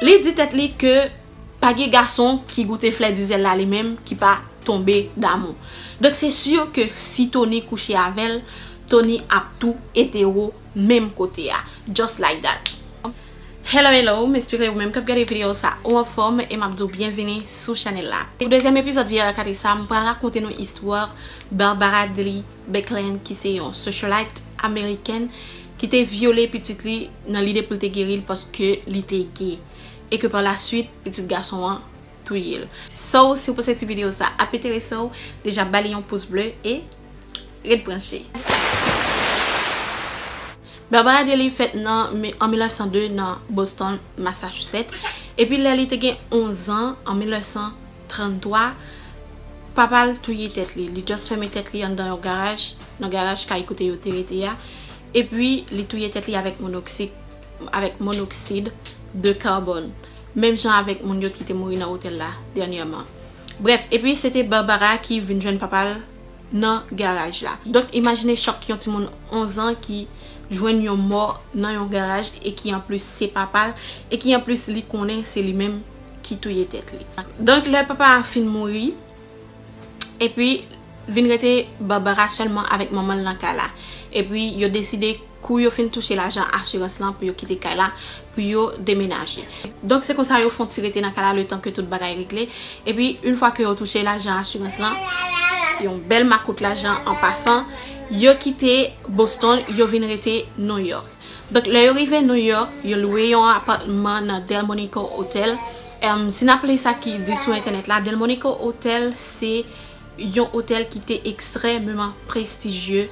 Li di tèt li ke pa gen gason ki goute flè dizèl la li menm ki pa tonbe damou. Donk se sur ke si Tony kouche avèl, Tony ap tou etero menm kote a. Just like that. Hello hello, m espere ou menm kap gade video sa ou anfòm e map di w byenvini sou chanèl la. Pou dezyèm epizòd Viera Kate sa m pral rakonte nou istwa Barbara Dely. Beckland ki se yon socialite Amerikèn ki te vyole pitit li nan lide pou l te geri l paske li te ge. E ke pa la swit pitit gason an touye l. So si w panse ti video sa ap enterese w deja ba li yon pous ble e ret branche. Barbara Daly fèt nan an 1902 nan Boston, Massachusetts, epi lè li te gen 11 an, an 1900, 33, Papa l touye tèt li. Li just fèmen tèt li anndan yon garaj, nan garaj kay kote yo te rete a, epi li touye tèt li avèk monoksik, avèk monoksid de karbòn. Menm jan avèk moun yo ki te mouri nan otèl la dènyèman. Brèf, epi se te Barbara ki vin jwenn papa l nan garaj la. Donk imajine chòk yon timoun 11 an ki jwenn yon mò nan yon garaj e ki anplis se papa l, e ki anplis li konnen se li menm. ki touye tèt li. Donk lè papa a fin mouri epi vin rete Barbara sèlman avèk manman l nan kay la. Epi yo deside kou yo fin touche lajan asirans lan pou yo kite kay la pou yo demenaje. Donk se konsa yo fon ti rete nan kay la letan ke tout bagay regle. Epi yn fwa ke yo touche lajan asirans lan, yon bèl makout lajan an pasan, yo kite Boston yo vin rete Nouyòk. Donk lè yo rive New York, yo lwe yon apatman nan Delmonico Hotel. Si n ap li sa ki di sou entènèt la, Delmonico Hotel se yon otèl ki te ekstrèmeman prestijye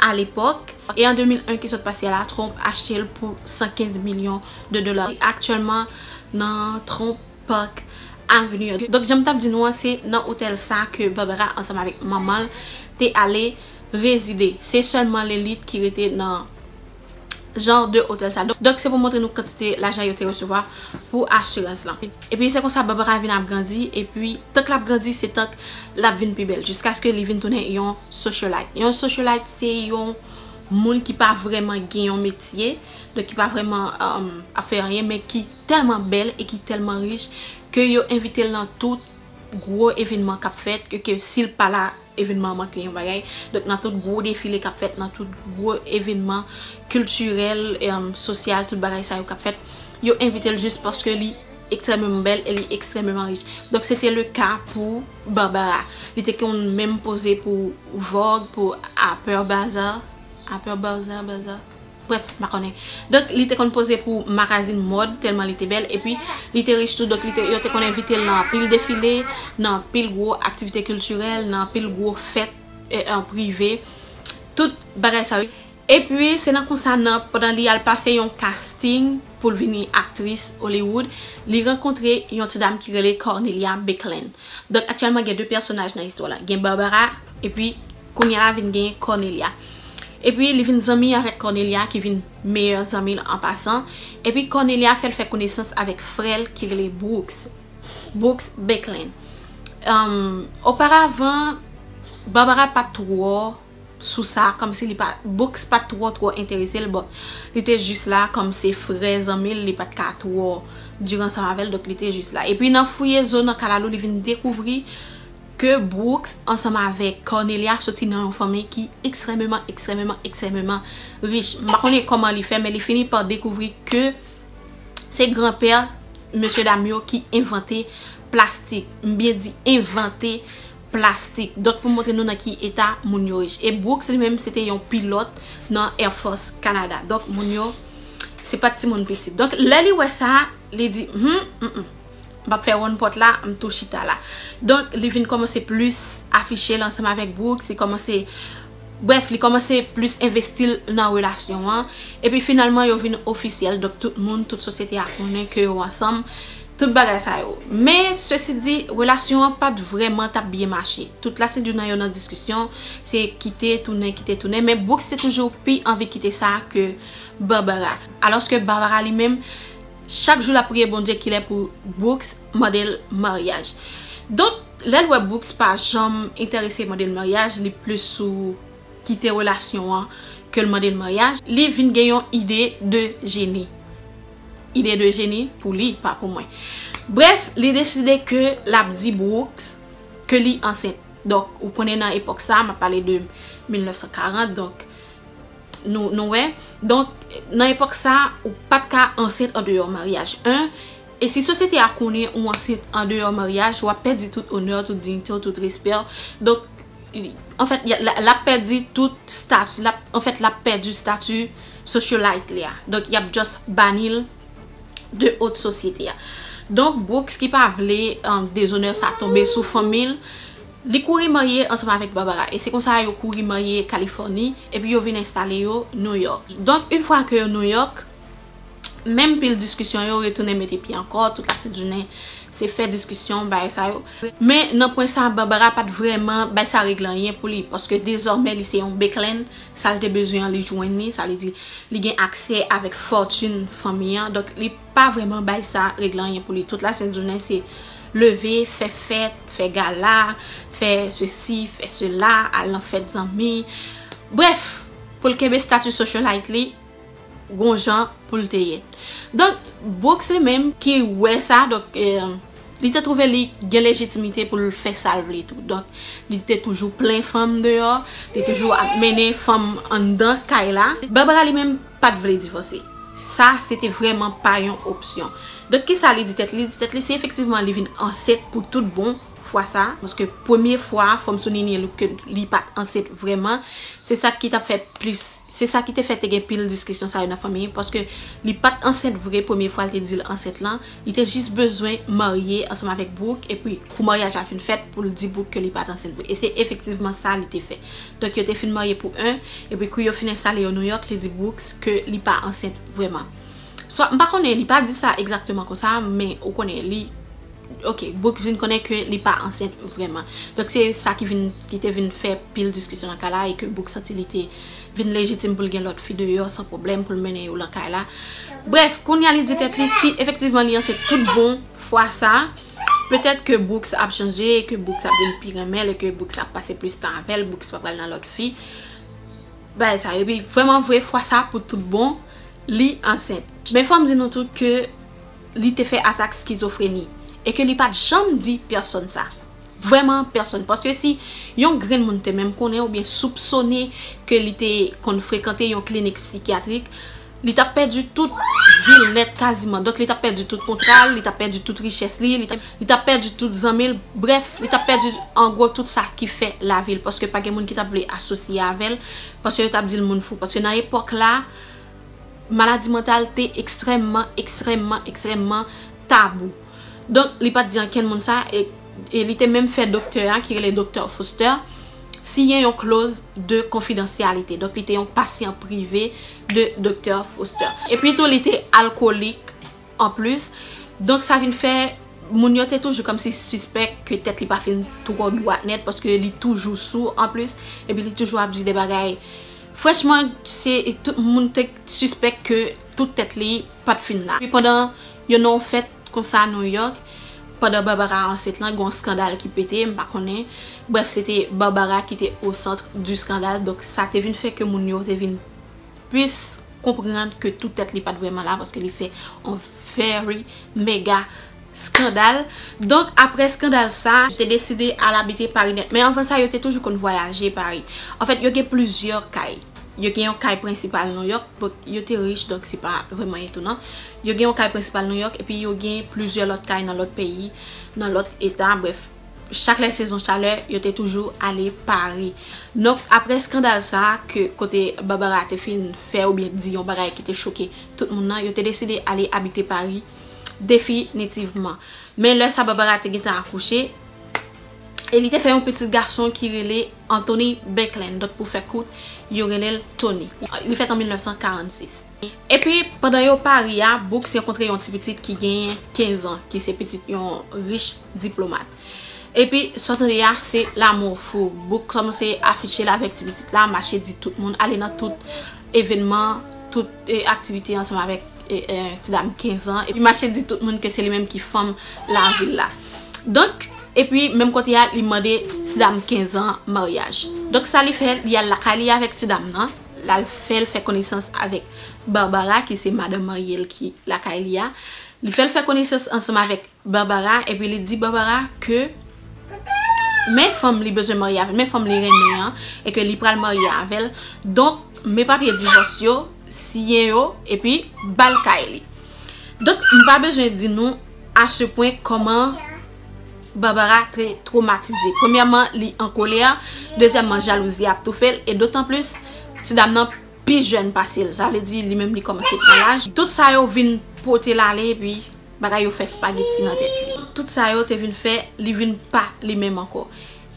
a lepòk. E an 2001 ki sot pase la, Trump achte l pou 115 milyon de dola. Aktyèlman nan Trump. Park Avenue an. Donk janm tap di nou an se nan otèl sa ke Barbara ansanm avèk manmanl te ale rezide. Se sèlman lelit ki rete nan jan de otèl sa. Donk se pou montre nou kantite lajan yo te resevwa pou asirans lan. Epi se konsa Barbara vin ap grandi epi tank lap grandi se tank lap vin pi bèl jiskaske li vin tounen yon socialite. Yon socialite se yon moun ki pa vrèman gen yon metye, donk ki pa vrèman ap fè anyen men ki. tèlman bèl e ki tèlman rich ke yo envite l nan tout gwo evenman k ap fèt e ke si l pa la evenman an manke yon bagay. Donk nan tout gwo defile k ap fèt, nan tout gwo evenman kiltirèl, sosyal, tout bagay sa yo k ap fèt, yo envite l jis paske li ekstrèmeman bèl e li ekstrèmeman rich. Donk se te le ka pou Barbara. Li te konn menm poze pou Vogue, pou Harper Bazaar, Harper Barzar, Bazaar? Bref, m pa konnen. Donk li te konn poze pou makazin mòd tèlman li te bèl. Epi li te rich tou donk yo te konn envite l nan anpil defile, nan anpil gwo aktivite kiltirèl, nan anpil gwo fèt prive. Tout bagay sa yo. Epi se nan konsa nan pandan li al pase yon kasting pou l vini aktris Hollywood, li rankontre yon ti dam ki rele Cornelia Bicklin. Donk aktyèlman gen 2 pèsonaj nan istwa la. Gen Barbara epi. Kounye a vin gen Cornelia. Epi li vin zanmi avèk Cornelia ki vin meyè zanmi l an pasan. Epi Cornelia fè l fè konesans avèk frè l ki rele Brooks. Brooks Becklin. Oparavan, Barbara pa t twò sou sa, kòmsi li pa, Brooks pa t twò twò enterese l but li te jis la kòm se frè zanmi l, li pa t ka twò dur ansanm avè l, donk li te jis la. Epi nan fouye zo nan kalalou li vin dekouvri Ke Brooks ansanm avèk Cornelia soti nan yon fanmi ki ekstrèmeman, ekstrèmeman, ekstrèmeman rich. M pa konnen kòman li fè men li fini pa dekouvri ke se granpè mesye dam yo ki envante plastik. M byen di envante plastik. Donk pou m montre nou nan ki eta moun yo rich. E Brooks li menm se te yon pilòt nan Air Force Canada. Donk moun yo se pa ti moun piti. Donk lè li wè sa, li di, Hum, m m. M pap fè wonn pòt la, m tou chita la. Donk, li vin kòmanse plis afiche l ansanm avèk Brooks, li kòmanse, brèf, li kòmanse plis envesti l nan relasyon an. Epi finalman, yo vin ofisyèl, donk tout moun, tout sosyete a konnen ke yo ansanm, tout bagay sa yo. Men, sesi di, relasyon an pa t vrèman t ap byen mache. Tout lasidri nan yo nan diskisyon, se kite, tounen, kite, tounen. Men, Brooks te toujou pi anvi kite sa ke Barbara. Alòske Barbara li menm. Chak jou lap priye Bondye kilè pou Brooks mandel maryaj. Donk lèl wè Brooks pa janm entèrese mandel maryaj li plis sou kite relasyon an kel mandel maryaj, li vin gen yon ide de jeni. Ide de jeni pou li pa pou mwen. Brèf li deside ke lap di Brooks ke li ansent. Donk ou konnen nan epòk sa map pale de 1940 donk Nou wè? Donk, nan epòk sa, ou pa t ka ansent andeyò maryaj. 1, E si sosyete a konnen ou ansent andeyò maryaj, w ap pèdi tout onè w, tout diyite w, tout respè w. Donk, anfèt, l ap pèdi tout stati, l ap, anfèt, l ap pèdi stati socialite li a. Donk, y ap just bani l de haute société a. Donk, Brooks ki pa vle dezonè sa tonbe sou fanmi l, Li kouri marye ansanm avèk Barbara e se konsa yo kouri marye Kalifòni epi yo vin enstale yo New York. Donk yn fwa ke yo New York, menm pil diskisyon yo retounen mete pye ankò, tout la sent jounen se fè diskisyon, bagay sa yo. Men nan pwen sa Barbara pat vrèman bay sa regle anyen pou li, paske dezòmè li se yon Becklin, sa l te bezwen an li jwenn li, sa vle di li gen aksè avèk fòtune fanmi an, donk li. Pa vreman bay sa regle anyen pou li tout la sent jounen se leve fè fèt fè gala fè se si fè se la al nan fèt zanmi brèf pou l kenbe statu socialite li gon jan pou l te ye donk Brook se menm ki wè sa donk li te trouve li gen lejitimite pou l fè sa l vle tou donk li te toujou plen fanm deyò li toujou ap mennen fanm anndan kay la Barbara li menm pat vle divòse. Sa se te vrèman pa yon opsyon. Donk ki sa li di tèt li? Li di tèt li si efektivman li vin ansent pou tout bon fwa sa, paske premye fwa a fòm sou Ninie look ke li pat ansent vrèman, se sa ki tap fè plis, se sa ki te fè te gen pil diskisyon sa yo nan fanmi, paske li pat ansent vre premye fwa li te di l ansent lan. Li te jis bezwen marye ansanm avèk Brook epi kou maryaj la fin fèt pou l di Brook ke li pa t ansent vre. E se efektivman sa li te fè. Donk yo te fin marye pou 1 epi kou yo fin enstale yo New York li di Brook ke li pa ansent vrèman. Swa m pa konnen li pa di sa egzakteman konsa men ou konnen li ok Brook vin konnen ke li pa ansent vrèman. Donk se sa ki vin ki te vin fè pil diskisyon nan ka la e ke Brook santi li te vin lejitim pou l gen lòt fi deyò san pwoblèm pou l mennen yo lan kay la. Brèf, kounye a li di tèt li si efektivman li ansent tout bon fwa sa, petèt ke Brooks ap chanje, ke Brooks ap vin pi renmen l e ke Brooks ap pase plis tan avè l, Brooks pa pral nan lòt fi. Bagay sa yo. Epi, vrèman vre, fwa sa pou tout bon, li ansent. Men fò m di nou tou ke li te fè atak skizofreni e ke li pa t janm di pèsòn sa. Vrèman pèsonn. Paske si yon grenn moun te menm konnen oubyen soupsone ke li te konn frekante yon klinik psikyatrik, li t ap pèdi tout vi l nèt kaziman. Donk li t ap pèdi tout kontra l, li t ap pèdi tout richès li, li t ap pèdi tout zanmi l, brèf, li t ap pèdi an gwo tout sa ki fè lavi l. Paske pa gen moun ki t ap vle asosye avè l, paske yo t ap di l moun fou. Paske nan epòk la, maladi mantal te ekstrèmman, ekstrèmman, ekstrèmman tabou. Donk, li pa t di ankenn moun sa e li te menm fè doktè a, ki rele Doktè Fuster, siyen yon kloz de konfidansyalite. Donk, li te yon pasyan prive de Doktè Fuster. Epi tou, li te alkolik an plis. Donk, sa vin fè moun yo te toujou kòmsi sispèk ke tèt li pa fin twò dwat nèt paske li toujou sou an plis epi li toujou ap di de bagay. Franchman, se tout moun te sispèk ke tout tèt li pa t fin la. Epi pandan. Yo nan yon fèt konsa New York, pandan Barbara ansent lan, gen yon skandal ki pete, m pa konnen, brèf se te Barbara ki te au centre du scandale, donk sa te vin fè ke moun yo te vin plis konprann ke tout tèt li pa t vrèman la paske li fè yon very mega skandal. Donk aprè skandal sa, yo te deside al abite Paris nèt, men anvan sa yo te toujou konn vwayaje Paris. An fèt yo gen plizyè kay, yo gen yon kay prensipal New York, yo te rich donk se pa vrèman etonan. Yo gen yon kay prensipal New York epi yo gen plizyè lòt kay nan lòt peyi, nan lòt eta, brèf, chak lè sezon chalè yo te toujou ale Paris. Donk aprè skandal sa a ke kote Barbara te fin fè oubyen di yon bagay ki te choke tout moun nan, yo te deside ale abite Paris definitivman. Men lè sa Barbara te gentan akouche e li te fè yon pitit gason ki rele Anthony Beckland, donk pou fè kout yo rele l Tony. Li fèt an 1946. Epi, pandan yo pari a, Books rankontre yon ti pitit ki genyen 15 an, ki se pitit yon rich diplomat. Epi, sa w tande a, se lamou fou. Books kòmanse afiche l avèk ti pitit la, mache di tout moun, ale nan tout evenman, tout aktivite ansanm avèk ti dam 15 an. Li mache di tout moun ke se li menm ki fanm lavil la. Donk, epi, menm kote a, li mande ti dam 15 an maryaj. Donk, sa li fè, li al lakay li avèk ti dam nan. L al fè l fè konesans avèk Barbara ki se madanm marye l ki lakay li a. Li fè l fè konesans ansanm avèk Barbara epi li di Barbara ke men fanm li bezwen marye avè l, men fanm li renmen an e ke li pral marye avè l. Donk, men papye divòs yo, siyen yo epi ba l kay li. Donk, m pa bezwen di nou a se pwen kòman. Barbara trè twomatize. Premyèman, li an kolè. Dezyèmman, jalouzi a ap toufe l. E dotan plis, ti dam nan pi jèn pase l. Sa vle di, li menm li kòmanse pran laj. Tout sa yo vin pote l ale epi bagay yo fè spageti nan tèt li. Tout sa yo te vin fè li vin pa li menm ankò.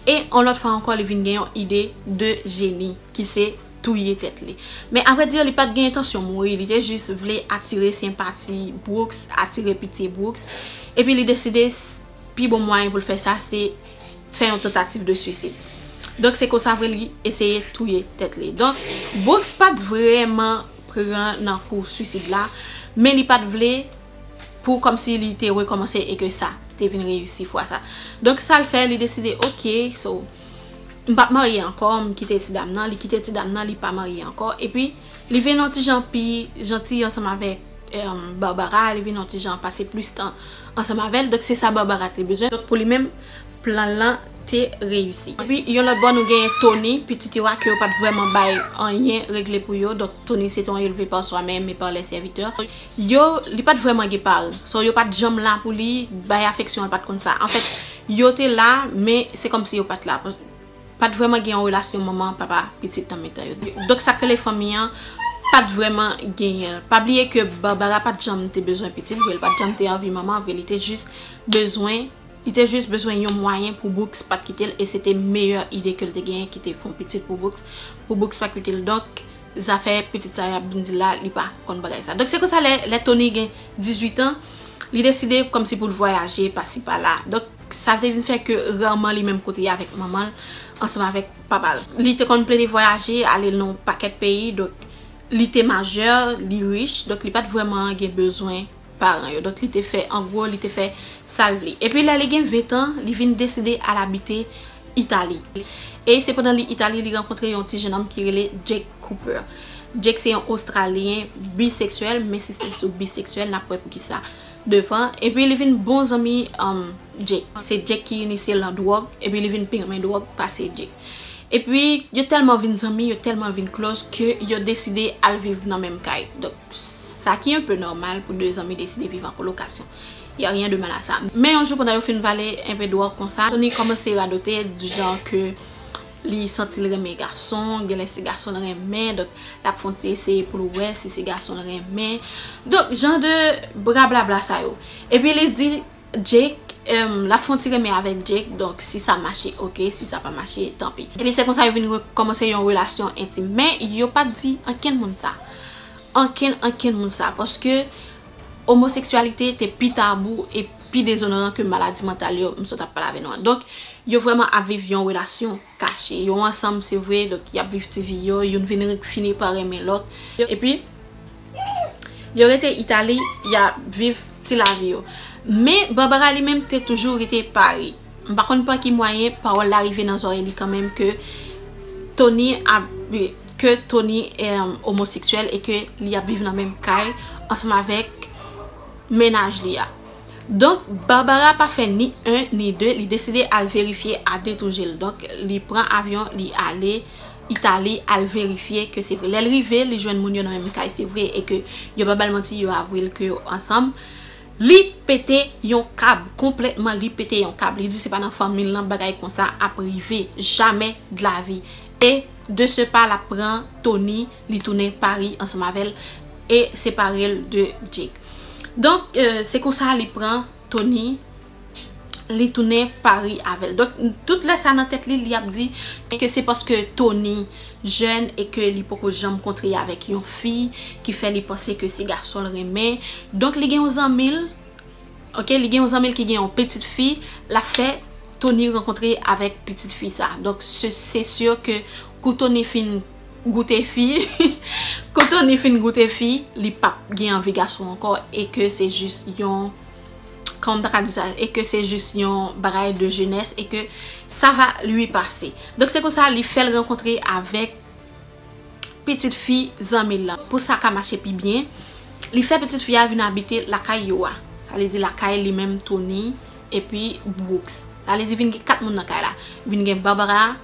E yon lòt fwa ankò li vin gen yon ide de jeni ki se. touye tèt li. Men a vrè dire li pat gen entansyon mouri, li te jis vle atire senpati Brooks, atire pitye Brooks, epi li deside pi bon mwayen pou l fè sa se fè yon tantativ de swisid. Donk se konsa vre li eseye touye tèt li. Donk Brooks pat vrèman pran nan kou swisid la, men li pat vle pou kòm si li te rekòmanse e ke sa te vin reyisi fwa sa. Donk sa l fè, li deside ok, so. M pap marye ankò, m kite ti dam nan, li kite ti dam nan, li pa marye ankò, epi li vin yon ti jan pi janti ansanm avèk Barbara, li vin yon ti jan pase plis tan ansanm avè l, donk se sa Barbara te bezwen, donk pou li menm plan l lan te reyisi. Epi yon lòt bò nou genyen Tony, pitit yo a ke yo pat vrèman bay anyen regle pou yo, donk Tony se te yon elve par soi-même et par les serviteurs. Yo, li pa t vrèman gen pa l. So, yo pa t janm la pou li, bay afeksyon l pa t konn sa. Anfèt, yo te la, men se kòmsi yo pa t la. Pa t vrèman gen yon relasyon manman, papa, pitit nan mitan yo. Donk sa k rele fanmi an pa t vrèman genyen l. Pa bliye ke Barbara pa t janm te bezwen pitit vre, li pa t janm te anvi manman vre. Li te jis bezwen, li te jis bezwen yon mwayen pou Brooks pa t kite l e se te meyè ide ke l te genyen ki te fè yon pitit pou Brooks, pou Brooks pa kite l. Donk. Zafè pitit sa yap vin di la li pa konn bagay sa. Donk se konsa lè Tony gen 18 ans li deside kòmsi poul vwayaje pasi pala. Donk sa te vin fè ke rarement li menm kote avèk manmanl ansanm avèk papal. Li te konn plede vwayaje ale nan yon pakèt peyi donk li te majeur, li riche donk li pat vrèman gen bezwen. paran yo donk li te fè angwo li te fè sal vle epi lè li gen 20 tan li vin deside al abite itali e se pandan li itali li rankontre yon ti jenòm ki rele Jake Cooper Jake se yon ostralyen biseksyèl men si se sou biseksyèl nap wè poukisa devan epi li vin bon zanmi Jake se Jake ki inisyel nan dwòg epi li vin pi renmen dwòg pase Jake epi yo tèlman vin zanmi yo tèlman vin klòch ke yo deside al viv nan menm kay donk. Sa ki enpe nòmal pou 2 zanmi deside viv an kolokasyon. Y a rien de mal à ça. Men yon jou pandan yo fin vale enpe dwòg konsa, Tony kòmanse radote du genre ke li santi l renmen gason, genlè se gason l renmen, donk l ap fè yon ti eseye pou l wè si se gason l renmen. Donk jan de brablabla sa yo. Epi li di Jake l ap fè yon ti renmen avèk Jake, donk si sa mache ok, si sa pa mache tanpi. Epi se konsa yo vin kòmanse yon relasyon entim. Men yo pa t di ankenn moun sa. ankenn ankenn moun sa paske omoseksyalite te pi tabou e pi dezonoran ke maladi mantal yo m sot ap pale avè nou an. Donk, yo vrèman ap viv yon relasyon kache. Yo ansanm se vre, donk y ap viv ti vi yo, youn vin fini pa renmen lòt. Epi, yo rete Itali, y ap viv ti lavi yo. Men, Barbara li menm te toujou rete Pari. M pa konn pa ki mwayen, pawòl la rive nan zòrèy li kanmenm ke Tony ap. ke Tony omoseksyèl e ke li ap viv nan menm kay ansanm avèk mennaj li a. Donk, Barbara pa fè ni 1 ni 2, li deside al verifye a 2 tou je l. Donk, li pran avyon, li ale Itali al verifye ke se vre. Lè l rive, li jwenn moun yo nan menm kay se vre e ke yo pa ba l manti, yo avwe l ke yo ansanm. Li pete yon kab, konplètman li pete yon kab. Li di se pa nan fanmi l nan bagay konsa ap rive, jamè dlavi. E de ce pas lap pran Tony li tounen Paris ansanm avèl e separel de Jake donk se konsa li pran Tony li tounen Paris avèl donk tout lè sa nan tèt li li ap di ke se paske Tony jèn e ke li poko janm kontre avèk yon fi ki fè li panse ke se gasonl renmen donk li gen yon zanmil Ok li gen yon zanmil ki gen yon pitit fi lap fè Tony rankontre avèk pitit fi sa donk se si ke kou Tony fin goute fi kou Tony fin goute fi li pap gen anvi gason ankò e ke se jis yon kòman m ta ka di sa e ke se jis yon bagay de jenès e ke sa va lui pase donk se konsa li fèl rankontre avèk pitit fi zanmi l lan. Pou sa ka mache pi byen, li fè pitit fi a vin abite lakay yo a. Sa vle di lakay li menm Tony epi Brooks. Sa vle di vin gen 4 moun nan kay la. Vin gen Barbara,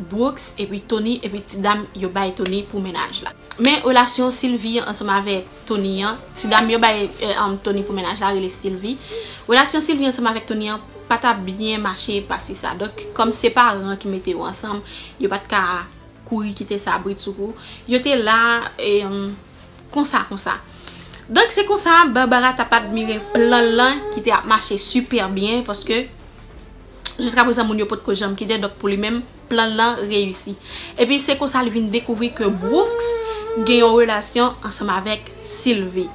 Brooks epi Tony epi ti dam yo bay Tony pou mennaj la. Men relasyon Sylvie ansanm avèk Tony an, ti dam yo bay Tony pou mennaj la rele Sylvie. Relasyon Sylvie ansanm avèk Tony an pa t ap byen mache pase sa. Donk kòm se paran ki mete yo ansanm, yo pa t ka. kouri kite sa britsoukou yo te la konsa konsa donk se konsa Barbara tap admire plan l lan ki te ap mache sipè byen paske jiska prezan moun yo pot ko janm kite donk pou li menm plan l lan reyisi epi se konsa li vin dekouvri ke Brooks gen yon relasyon ansanm avèk Sylvie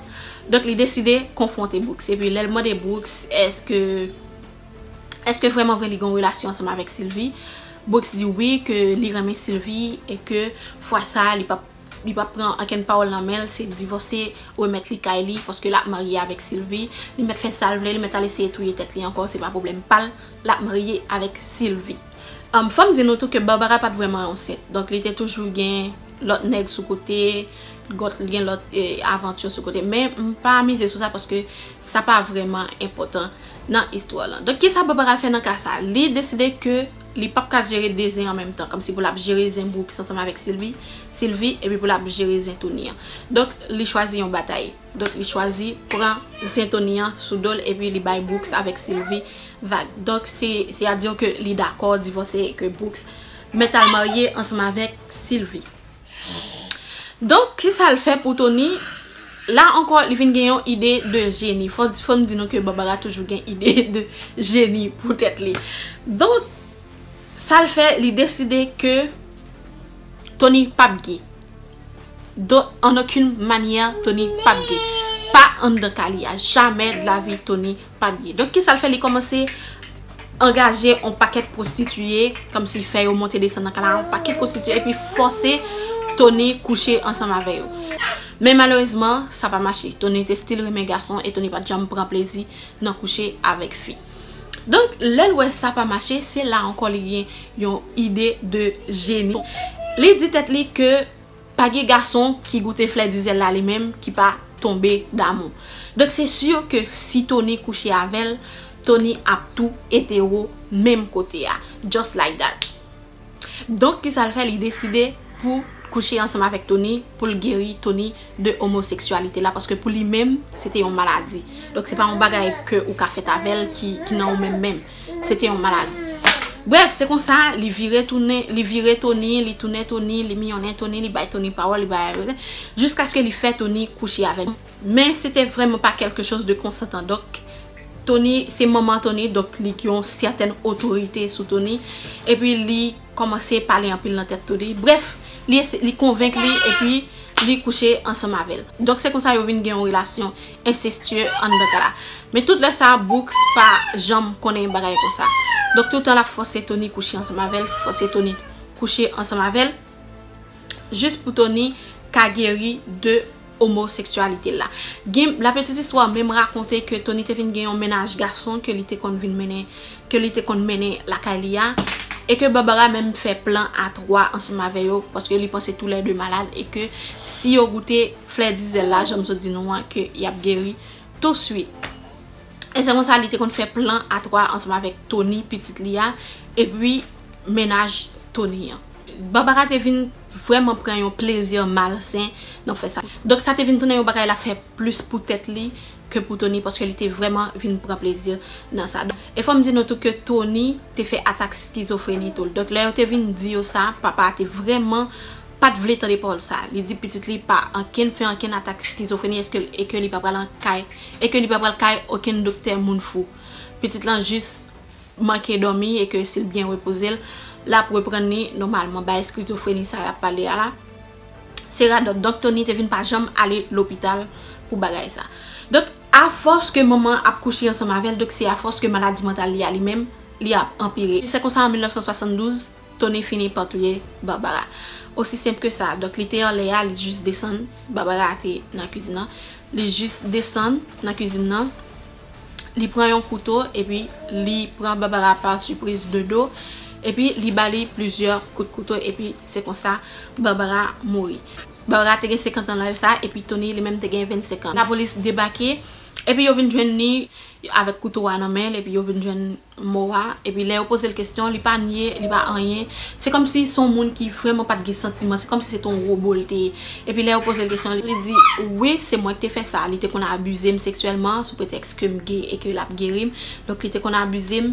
donk li deside konfwonte Brooks epi lè l mande Brooks eske eske vrèman vre li gen yon relasyon ansanm avèk Sylvie. Brooks di wi ke li renmen Sylvie e ke fwa sa li pap li pap pran ankenn pawòl nan menl se divòse remèt li kay li paske lap marye avèk Sylvie li mèt fè sal vle li mèt al eseye touye tèt li ankò se pa pwoblèm pal lap marye avèk Sylvie humm fòm di nou tou ke Barbara pat vrèman ansent donk li te toujou gen lòt nèg sou kote gòt gen lòt avanture sou kote men mpa mize sou sa paske sa pa vrèman enpòtan nan istwa lan. Donk kisa papa ka fè nan ka sa? Li deside ke li pap ka jere 2 zen an menm tan. Kòmsi pou l ap jere zen Brooks ansanm avèk Sylvie, Silvi, epi pou l ap jere zen Tony an. Donk li chwazi yon batay. Donk li chwazi pran zen Tony an sou do l epi li bay Brooks avèk Sylvi vag. Donk se a dire ke li dakò divòse ke Brooks mèt al marye ansanm avèk Sylvi. Donk kisa l fè pou Tony? La ankò li vin gen yon ide de jeni. Fò n di nou ke Barbara toujou gen ide de jeni pou tèt li. Donk sa l fè li deside ke Tony p ap ge. De en aucune manière Tony p ap ge. Pa anndan kay li a. Jamè de la vi Tony. Pa byen. Donk kisa l fè li kòmanse angaje on pakèt pwostitiye kòmsi fè yo monte desann nan kay la on pakèt pwostitiye epi fòse Tony kouche ansanm avè yo. Men malerezman sa pa mache. Tony te stil renmen gason e Tony pat janm pran plezi nan kouche avèk fi. Donk lè l wè sa pa mache se la ankò li gen yon ide de jeni. Li di tèt li ke Pa gen gason ki goute flè dizèl la li menm ki pa tonbe damou. Donk se sur ke si Tony kouche avèl, Tony ap tou etero menm kote a. Just like that. Donk ki sal fè li deside pou kouche ansanm avèk Tony poul geri Tony de omoseksyalite la paske pou li menm se te yon maladi. Donk se pa yon bagay ke ou ka fèt avèl ki nan ou menm menm. Se te yon maladi. Brèf, se konsa, li vire tounen, li vire Tony, li tounen Tony, li miyonnen Tony, li bay Tony pawòl, li bay Tony, jiskaske li fè Tony kouche avè l. Men, se te vrèman pa kèlke chòz de konsantan. Donk, Tony, se manman Tony, donk li gen yon sètèn otorite sou Tony. Epi, li kòmanse pale anpil nan tèt Tony. Brèf, li konvenk li, epi li kouche ansanm avè l. Donk, se konsa yo vin gen yon relasyon. ensestyè anndan ka la. Men tout lè sa Brooks pa janm konnen yon bagay konsa. Donk toutan l ap fòse Tony kouche ansanm avè l, fòse Tony kouche ansanm avè l, jis pou Tony ka geri de omoseksyalite l la. Gen la petite histoire menm rakonte ke Tony te vin gen yon mennaj gason ke li te konn vin mennen, ke li te konn mennen lakay li a, e ke Barbara menm fè plan a 3 ansanm avè yo, paske li panse tou lè 2 malad e ke si yo goute. Flè dizèl la janm sot di nou an ke yap geri touswit. E se konsa li te konn fè plan a 3 ansanm avèk Tony pitit li a epi mennaj Tony an. Barbara te vin vrèman pran yon plezi malsen nan fè sa. Donk sa te vin tounen yon bagay lap fè plis pou tèt li ke pou Tony paske li te vrèman vin pran plezi nan sa. E fòm di nou tou ke Tony te fè atak skizofreni tou. Donk lè yo te vin di yo sa papa a te vrèman Pat vle tande pawòl sa. Li di pitit li pa ankenn fè ankenn atak skizofreni eske e ke li pa pral an kay e ke li pa pral kay okenn doktè moun fou. Pitit lan jis manke dòmi e ke sil byen repoze l lap reprann li nòmalman. Bay skizofreni sa yap pale a la se radòt. Donk Tony te vin pa janm ale lopital pou bagay sa. Donk a fòs ke manman an ap kouche ansanm avèl donk se a fòs ke maladi mantal li a li menm li ap anpire. Se konsa an 1972. Tony fini pa touye Barbara. Osi senp ke sa. Donk li te anlè a, li jis desann. Barbara te nan kizin nan. Li jis desann nan kizin nan. Li pran yon kouto epi li pran Barbara pa sipriz de do. Epi li ba li plizyè kout kouto epi se konsa Barbara mouri. Barbara te gen 50 an lè sa a epi Tony li menm te gen 25 an. Lapolis debake epi yo vin jwenn li avèk kouto a nan men l epi yo vin jwenn. mo a, epi lè yo poze l kesyon, li pa nye, li pa anyen. Se kòm si se yon moun ki vrèman pa t gen santiman, se kòm si se te yon wobo l te ye. Epi lè yo poze l kesyon, li di, wi, se mwen ki te fè sa. Li te konn abize m seksyèlman sou pretèks ke m ge e ke l ap geri m. Donk, li te konn abize m.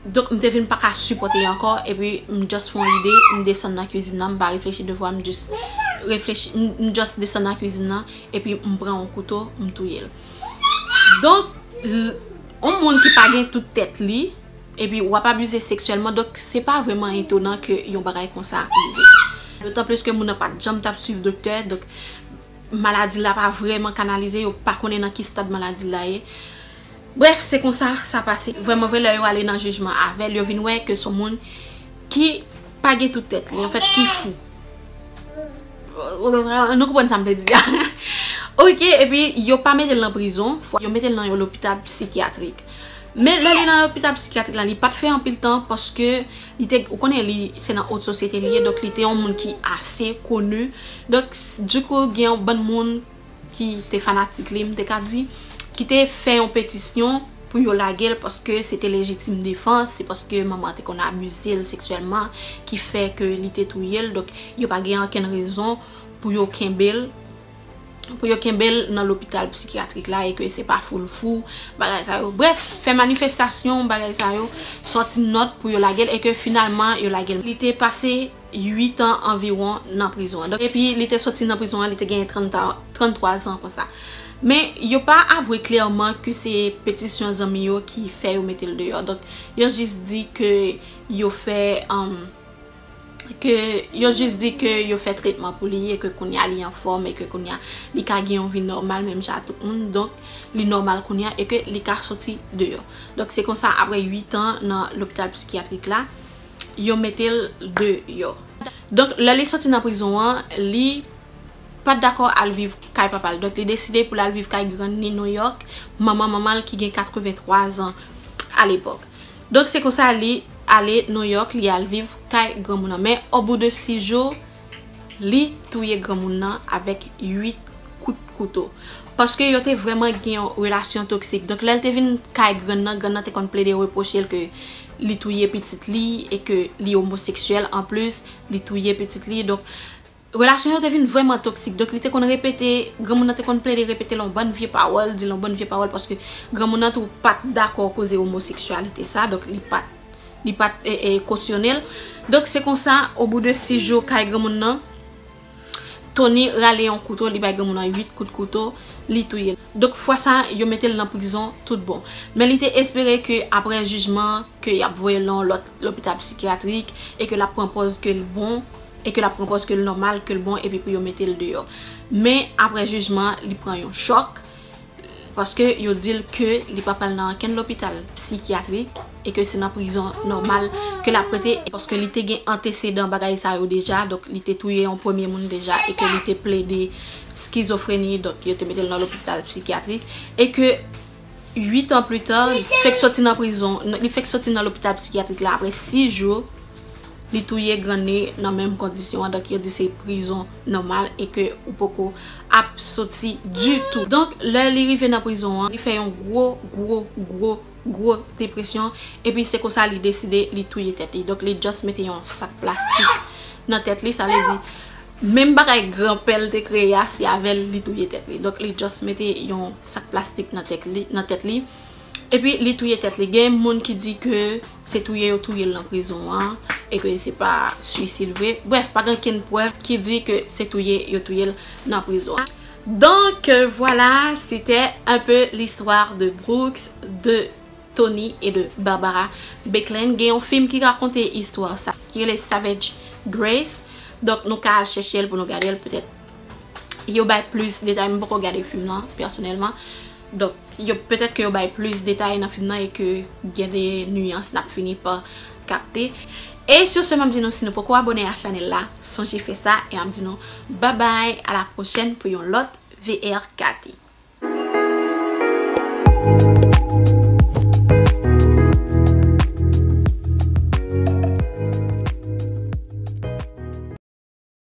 Donk, m te vin pa ka sipòte ankò. Epi, m just fè yon ide, m desann nan kuizin nan, m pa reflechi de fwa, m just reflechi, m just desann nan kuizin nan, epi m pran yon kouto, m touye l. Donk. On moun ki pa gen tout tèt li, epi wap abize seksyèlman, donk se pa vrèman etonan ke yon bagay konsa rive. Dotan plis ke moun nan pat janm tap swiv doktè, donk maladi la pa vrèman kanalize, yo pa konnen nan ki stad maladi la ye. Brèf, se konsa sa pase. Vrèman vre lè yo ale nan jijman avèl, yo vin wè ke son moun. Ki pa gen tout tèt li, an fèt ki fou. Nou konprann sa m vle di a. Ok, epi yo pa mete l nan prizon, fwa yo mete l nan yon lopital psikyatrik. Men lè li nan lopital psikyatrik la, li pa t fè anpil tan paske li te, ou konnen li se nan ot sosyete li ye, donk li te yon moun ki ase koni. Donk, dikou gen yon bann moun. ki te fanatik li m te ka di, ki te fè yon petisyon pou yo lage l paske se te lejitim defans, se paske manman an te konn abize l seksyèlman ki fè ke li te touye l, donk yo pa gen ankenn rezon pou yo kenbe l, pou yo kenbe l nan lopital psikyatrik la e ke se pa fou l fou, bagay sa yo. Brèf, fè manifestasyon, bagay sa yo, sòti nòt pou yo lage l e ke finalman yo lage l. Li te pase. 8 an anviwon nan prizon an. Donk epi li te soti nan prizon an li te genyen 33 zan konsa. Men yo pa avwe klèman ke se petisyon zanmi yo ki fè yo mete l deyò. Donk yo jis di ke yo fè ke yo jis di ke yo fè tretman pou li e ke kounye a li anfòm e ke kounye a li ka gen yon vi nòmal menm jan a tout moun. Donk li nòmal kounye a e ke li ka soti deyò. Donk se konsa apre 8 an nan lopital psikyatrik la yo mete l deyò. Donk lè li soti nan prizon an, li pa t dakò al viv kay papa l. Donk li deside pou l al viv kay grann ni Nouyòk, manman manman l ki gen 83 zan alepòk. Donk se konsa li ale Nouyòk, li al viv kay granmoun an. Men obou de 6 jou. Li touye granmoun nan avèk 8 kout kouto. Paske yo te vrèman gen yon relasyon toksik. Donk lè l te vin kay grann nan, grann nan te konn plede repwoche l ke li touye pitit li e ke li omoseksyèl anplis, li touye pitit li. Donk, relasyon yo te vin vrèman toksik. Donk li te konn repete, granmoun nan te konn plede repete l yon bann vye pawòl, di l yon bann vye pawòl paske granmoun nan tou pa t dakò koze omoseksyalite sa. Donk li pa t Li pat kosyone l. Donk se konsa o bou de 6 jou kay granmoun nan, Tony rale yon kouto li bay granmoun nan 8 kout kouto, li touye l. Donk fwa sa yo mete l nan prizon tout bon. Men li te espere ke aprè jijman an ke y ap voye l nan yon lòt lopital psikyatrik e ke l ap pran pòz ke l bon e ke l ap pran pòz ke l nòmal, ke l bon epi pou yo mete l deyò. Men aprè jijman an li pran yon chòk. Paske yo di l ke li pa pral nan ankenn lopital psikyatrik e ke se nan prizon nòmal ke l ap rete paske li te gen antesedan bagay sa yo deja donk li te touye yon premye moun deja e ke li te plede skizofreni donk yo te mete l nan lopital psikyatrik e ke 8 an pli ta li fèk sòti nan prizon li fèk sòti nan lopital psikyatrik la aprè 6 jou. Li touye granne nan menm kondisyon an donk yo di se prizon nòmal e ke ou poko ap soti ditou. Donk lè li rive nan prizon an li fè yon gwo gwo gwo gwo depresyon epi se konsa li deside li touye tèt li donk li just mete yon sak plastik nan tèt li sa vle di menm bagay gran pè l te kreye a se avè l li touye tèt li donk li just mete yon sak plastik nan tèt li epi li touye tèt li gen moun ki di ke Se touye yo touye l nan prizon an e ke se pa swisid vre. Brèf, pa gen okenn prèv ki di ke se touye yo touye l nan prizon an. Donc voilà c'était un peu l'histoire de Brooks, de Tony et de Barbara Becklin. Gen yon film ki rakonte istwa sa ki rele Savage Grace. Donc nou ka al chèche l pou nou gade l petèt yo bay plis detay. M poko gade film lan pèsonèlman. Donk yo petèt ke yo bay plis detay nan fim nan e ke gen de niyans nap fini pa kapte. E sur ce map di nou si nou poko abone a chanèl la sonje fè sa e map di nou babay a la pwochèn pou yon lòt VRKT.